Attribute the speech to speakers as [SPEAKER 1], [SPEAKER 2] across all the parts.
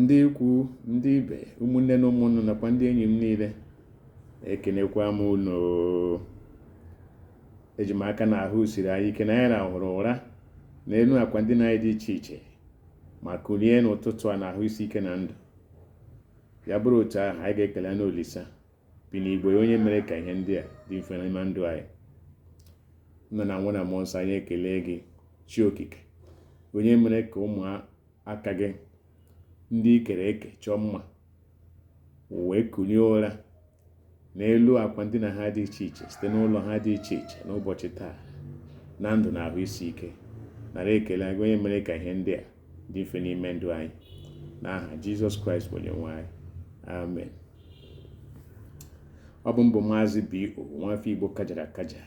[SPEAKER 1] ndị ikwu ndị ibe ụmụnne na ụmụnna nakwa ndị enyi m niile ekenekwa m unu eji m aka na ahụ siri anyị ike na anyị rahụrụ ụra n'elu akwa ndina anyị dị iche iche ma kulie n'ụtụtụ a na ahụ isi ike na ndụ ya bụrụ otu ahụ anyị ga-ekelenụ Olisa bi n'igwe onye mere ka ihe ndị a dị mfe n'ime ndụ anyị nna na nwa na mmụọ nsọ anyị ekele gị chi okike onye mere ka ụmụaka gị ndị i kere eke chọọ mma wee kulie ụra n'elu akwa ndina ha dị iche iche site n'ụlọ ha dị iche iche n'ụbọchị taa na ndụ na ahụ isi ike nara ekele gị onye mere ka ihe ndị a dị mfe n'ime ndụ anyị n'aha Jizọs Kraịst bụ onye nwe anyị amen ọ bụ m bụ maazị B.O. nwafọ Igbo kajara akaja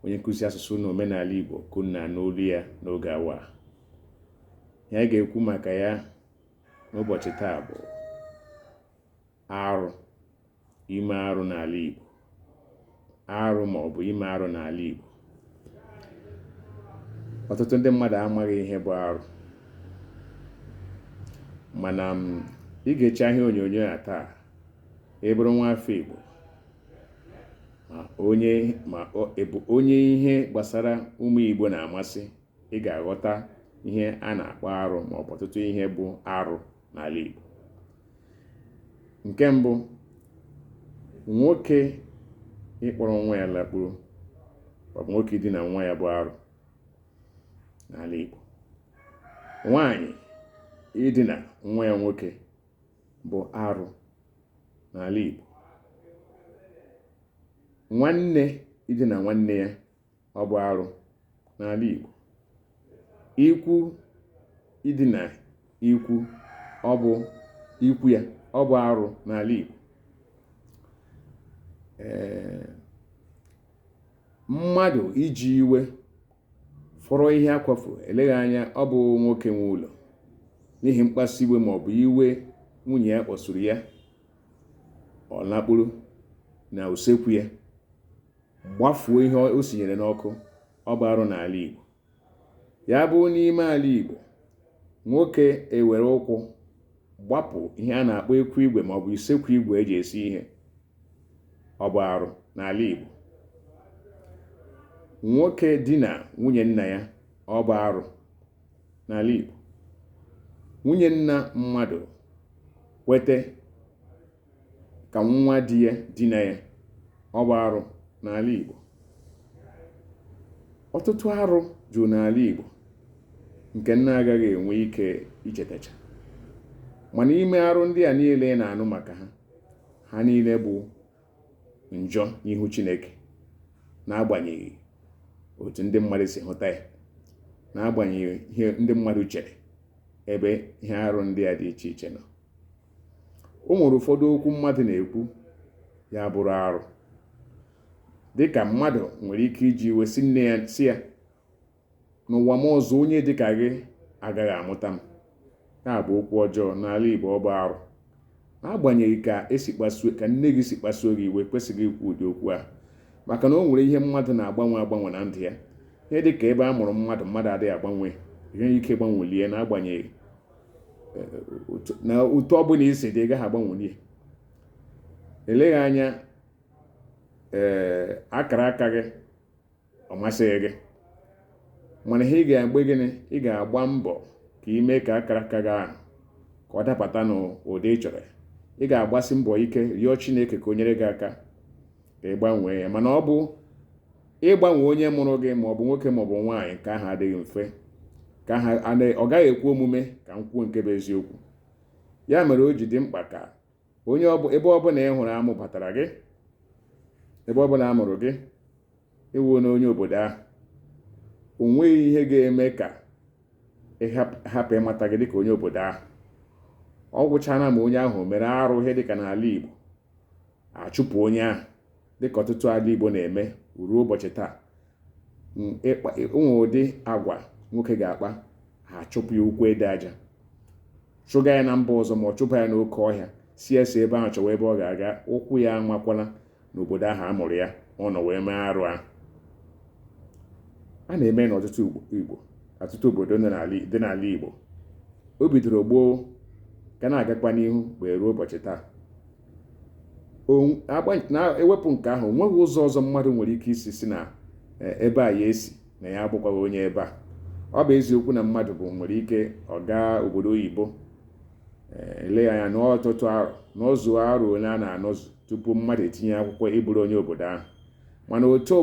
[SPEAKER 1] onye nkụzi asụsụ na omenala Igbo ka unu na-anụ olu ya n'oge awa a ihe anyị ga-ekwu maka ya n'ụbọchị taa bụ arụ ime arụ n'ala Igbo arụ ma ọ bụ ime arụ n'ala Igbo ọtụtụ ndị mmadụ amaghị ihe bụ arụ mana ma ị gechaa ihe onyonyo a taa ị bụrụ nwa afọ Igbo ma ọ bụ onye ihe gbasara ụmụ Igbo na-amasị ị ga-aghọta ihe a na-akpọ arụ ma ọ bụ ọtụtụ ihe bụ arụ n'ala Igbo nke mbụ nwoke ịkpọrọ nwa ya lakpuru ma ọ bụ nwoke idina nwa ya bụ arụ n'ala Igbo nwaanyị idina nwa ya nwoke bụ arụ n'ala Igbo nwanne idina nwanne ya ọ bụ arụ n'ala Igbo ikwu idina ikwu ọ bụ ikwu ya ọ bụ arụ n'ala Igbo ee mmadụ iji iwe fọrọ ihe akwafu eleghị anya ọ bụ nwoke nwe ụlọ n'ihi mkpasu iwe ma ọ bụ iwe nwunye ya kpọsuru ya ọ lakpuru na usekwu ya gbafuo ihe o sinyere n'ọkụ ọ bụ arụ n'ala Igbo ya bụ n'ime ala Igbo nwoke ewere ụkwụ gbapụ ihe a na-akpọ ekwu igwe ma ọ bụ isekwu igwe eji esi ihe ọ bụ arụ n'ala Igbo nwoke dina nwunye nna ya ọ bụ arụ n'ala Igbo nwunye nna mmadụ kwete ka nwa di ya dina ya ọ bụ arụ n'ala Igbo ọtụtụ arụ juru n'ala Igbo nke m na-agaghị enwe ike ichetacha mana ime arụ ndị a niile na-anụ maka ha ha niile bụ njọ n'ihu Chineke n'agbanyeghị otu ndị mmadụ si hụta ya n'agbanyeghị ihe ndị mmadụ chere ebe ihe arụ ndị a dị iche iche nọ o nwere ụfọdụ okwu mmadụ na-ekwu ya bụrụ arụ dịka mmadụ nwere ike iji iwe sị nne ya sị ya n'ụwa m ọzọ onye dịka gị agaghị amụta m ya bụ okwu ọjọọ n'ala Igbo ọ bụ arụ n'agbanyeghị ka e si kpasuo ka nne gị si kpasuo gị iwe i kwesịghị ikwu ụdị okwu ahụ maka na o nwere ihe mmadụ na-agbanwe agbanwe na ndụ ya ihe dị ka ebe a mụrụ mmadụ mmadụ adịghị agbanwe ihe ike gbanwelie ya n'agbanyeghị na otu ọ bụla i si dị ị gaghị agbanweli ya eleghị anya ee akara aka gị ọ masịghị gị mana ihe ị ga-agba gịnị ị ga-agba mbọ ka ị mee ka akara aka gị ahụ ka ọ dapụta n'ụdị ị chọrọ ị ga-agbasi mbọ ike rịọ Chineke ka o nyere gị aka ka ị gbanwee ya mana ọ bụ ịgbanwe onye mụrụ gị ma ọ bụ nwoke ma ọ bụ nwaanyị nke ahụ adịghị mfe ọ gaghị ekwe omume ka m kwuo nke bụ eziokwu ya mere o ji dị mkpa ka onye ebe ọbụla ị hụrụ a mụbatara gị ebe ọbụla a mụrụ gị ị wụ onye obodo ahụ o nweghị ihe ga-eme ka a hapụ ịmata gị dịka onye obodo ahụ ọ gwụchana ma onye ahụ mere arụ ihe dịka n'ala Igbo a chụpụ onye ahụ dịka ọtụtụ ala Igbo na-eme ruo ụbọchị taa o nwere ụdị agwa nwoke ga-akpa ha achụpụ ya ụkwụ ede aja chụga ya na mba ọzọ ma ọ chụpụ ya n'oke ọhịa sị ya si ebe ahụ chọwa ebe ọ ga-aga ụkwụ ya amakwala n'obodo ahụ a mụrụ ya ọ nọ wee mee arụ ahụ a na-eme n'ọtụtụ igbo ọtụtụ obodo dị n'ala igbo o bidoro gboo ka na-agakwa n'ihu wee ruo ụbọchị taa na e wepụ nke ahụ o nweghị ụzọ ọzọ mmadụ nwere ike isi sị na e, ebe a ya si na ya abụkwaghị onye ebe a ọ bụ eziokwu na mmadụ bụ nwere ike ọ gaa obodo oyibo e, eleghị anya nọ ọtụtụ arọ nọzuo arọ ole a na-anọzu tupu mmadụ etinye akwụkwọ ịbụrụ onye obodo ahụ mana otu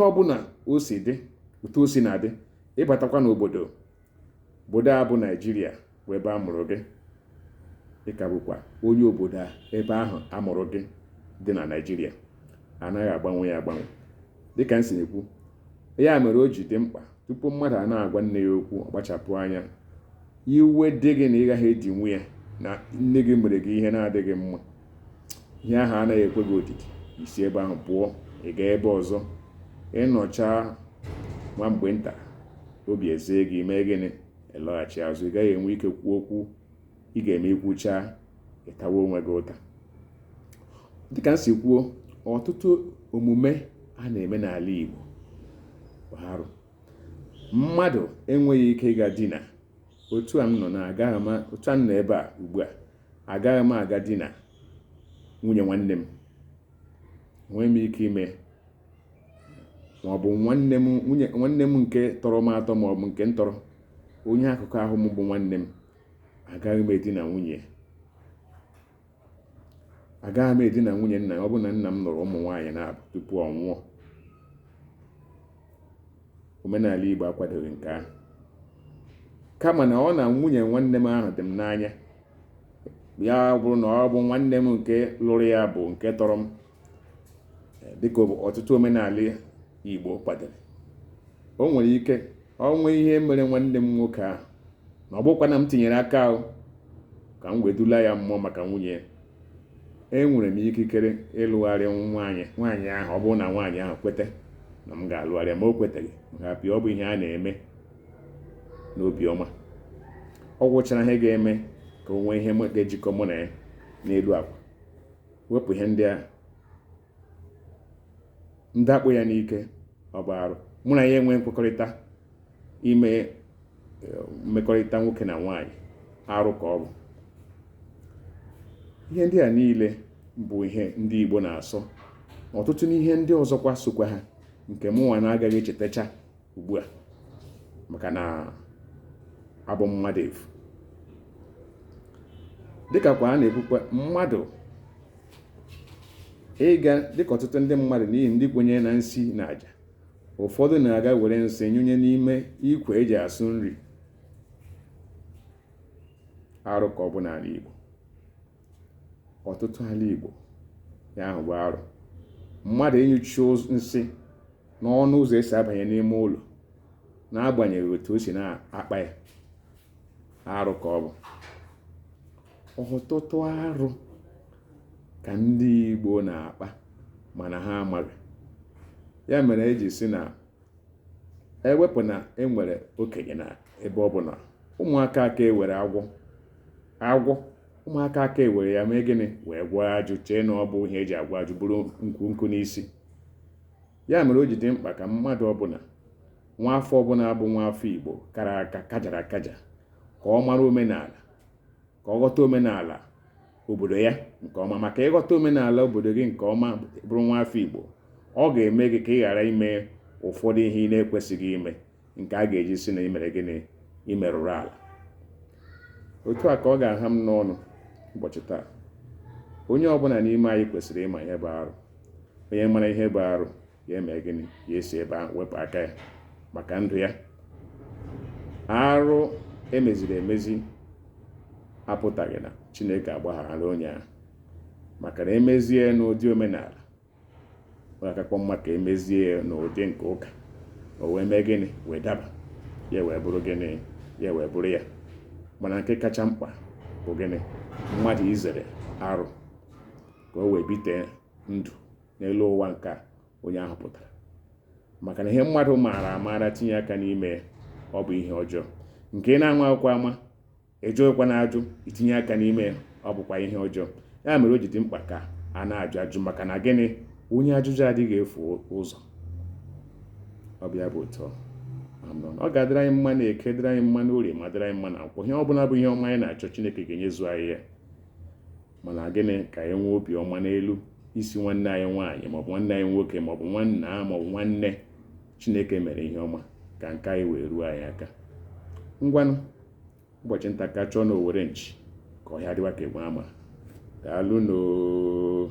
[SPEAKER 1] ọbụla o si dị otu o si na-adị ị batakwa n'obodo obodo a bụ naijiria bụ ebe a mụrụ gị ị ka bụkwa onye obodo ebe ahụ a mụrụ gị dị na naijiria anaghị agbanwe ya agbanwe dịka m si ekwu ya mere o ji dị mkpa tupu mmadụ a na-agwa nne ya okwu ọ kpachapụ anya iwe dị gị na ị gaghị edinwu ya na nne gị mere gị ihe na-adịghị mma ihe ahụ anaghị ekwe gị odidi i si ebe ahụ pụọ ị gaa ebe ọzọ ịnọchaa nwa mgbe nta obi ezie gị mee gịnị ịlọghachi azụ ị gaghị enwe ike kwuo okwu ị ga-eme ikwuchaa ịtawa onwe gị ụta dịka m si kwuo ọtụtụ omume a na-eme n'ala Igbo bụ arụ mmadụ enweghị ike ịga dina otu a m nọ agaghị m a otu a m nọ ebe a ugbu a agaghị m aga dina nwunye nwanne m enweghị m ike ime ma ọ bụ nwanne m nke tọrọ m atọ ma ọ bụ nke m tọrọ onye akụkụ ahụ m bụ nwanne m agaghị m edina nwunye agaghị m edina nwunye nna ọ bụ na nna m lụrụ ụmụ nwaanyị naabọ tupu ọ nwụọ omenala Igbo akwadoghị nke ahụ kama na ọ na nwunye nwanne m ahụ dị m n'anya ya bụrụ na ọ bụ nwanne m nke lụrụ ya bụ nke tọrọ m dịka ọtụtụ omenala Igbo kwadoro o nwere ike o nwee ihe mere nwanne m nwoke ahụ na ọ bụkwa na m tinyere aka ahụ ka m wee dula ya mmụọ maka nwunye enwere m ikikere ịlụgharị nwaanyị ahụ ọ bụrụ na nwaanyị ahụ kwete na m ga-alụgharị ya ma o kwetaghị maka apịa ọ bụ ihe a na-eme n'obiọma ọ gwụchara ihe ga-eme ka o nwee ihe ga-ejikọ mụ na ya n'elu akwa wepụ ihe ndị a m dakpo ya n'ike ọ bụ arụ mụ na ya nwee nkwekọrịta ime eh, mmekọrịta nwoke na nwaanyị arụ ka ọ bụ ihe ndị a niile bụ ihe ndị Igbo na-asọ ọtụtụ n'ihe ndị ọzọkwa sokwa ha nke mụnwa na-agaghị echetacha ugbu a maka na abụ m mmadụ efu dịka kwa a na-ekwukwa mmadụ ịga dịka ọtụtụ ndị mmadụ n'ihi ndị kwenyere na nsi na aja ụfọdụ na-aga were nsị nyụnye n'ime ikwe eji asụ nri arụ ka ọ bụ n'ala Igbo ọtụtụ ala Igbo ya ahụ bụ arụ mmadụ ịnyụchi nsị n'ọnụ ụzọ esi abanye n'ime ụlọ n'agbanyeghị otu o si na-akpa ya arụ ka ọ bụ ọtụtụ arụ ka ndị Igbo na-akpa mana ha amaghị ya mere eji sị na ewepụ na enwere okenye na ebe ọ bụla ụmụaka aka ewere agwọ ụmụaka aka ewere ya mee gịnị wee gwọọ ajụ chee na ọ bụ ihe eji agwọ ajụ buru nkụ nkụ n'isi ya mere o ji dị mkpa ka mmadụ ọbụla nwa afọ ọbụla bụ nwa afọ Igbo kara aka kajara akaja ka ọ mara omenala ka ọ ghọta omenala obodo ya nke ọma maka ị ghọta omenala obodo gị nke ọma bụrụ nwa afọ Igbo ọ ga-eme gị ka ị ghara ime ụfọdụ ihe ị na-ekwesịghị ime nke a ga-eji sị na i mere gịnị i merụrụ ala otu a ka ọ ga-aha m n'ọnụ ụbọchị taa onye ọbụla n'ime anyị kwesịrị ịma ihe bụ arụ onye mara ihe bụ arụ ya eme gịnị ya esi ebe ahụ wepụ aka ya maka ndụ ya arụ e meziri emezi apụtaghị na chineke agbaghara onye ahụ maka na e mezie n'ụdị omenala ọ ga-akakwa mma ka e mezie ya n'ụdị nke ụka o wee mee gịnị wee daba ya wee bụrụ gịnị ya wee bụrụ ya mana nke kacha mkpa bụ gịnị mmadụ izere arụ ka o wee bite ndụ n'elu ụwa nke a onye ahụ pụtara maka na ihe mmadụ maara amaara tinye aka n'ime ya ọ bụ ihe ọjọọ nke ị na-amaghịkwa ama ị jụghịkwanụ ajụ i tinye aka n'ime ya ọ bụkwa ihe ọjọọ ya mere o ji dị mkpa ka a na-ajụ ajụ maka na gịnị onye ajụjụ adịghị efu ụzọ ọ bụ ya bụ otu ọ ga-adịrị anyị mma na eke dịrị anyị mma na orie ma dịrị anyị mma na nkwọ ihe ọ bụla bụ ihe ọma anyị na-achọ Chineke ga-enyezu anyị ya mana gịnị ka anyị nwee obiọma n'elu isi nwanne anyị nwaanyị maọbụ nwanne anyị nwoke maọbụ nwanna maọbụ nwanne chineke mere ihe ọma ka nke anyị wee ruo anyị aka ngwanụ ụbọchị nta ka a chụọ na owere nchi ka ọhịa dịwa ka enwe ama daalụnụ oo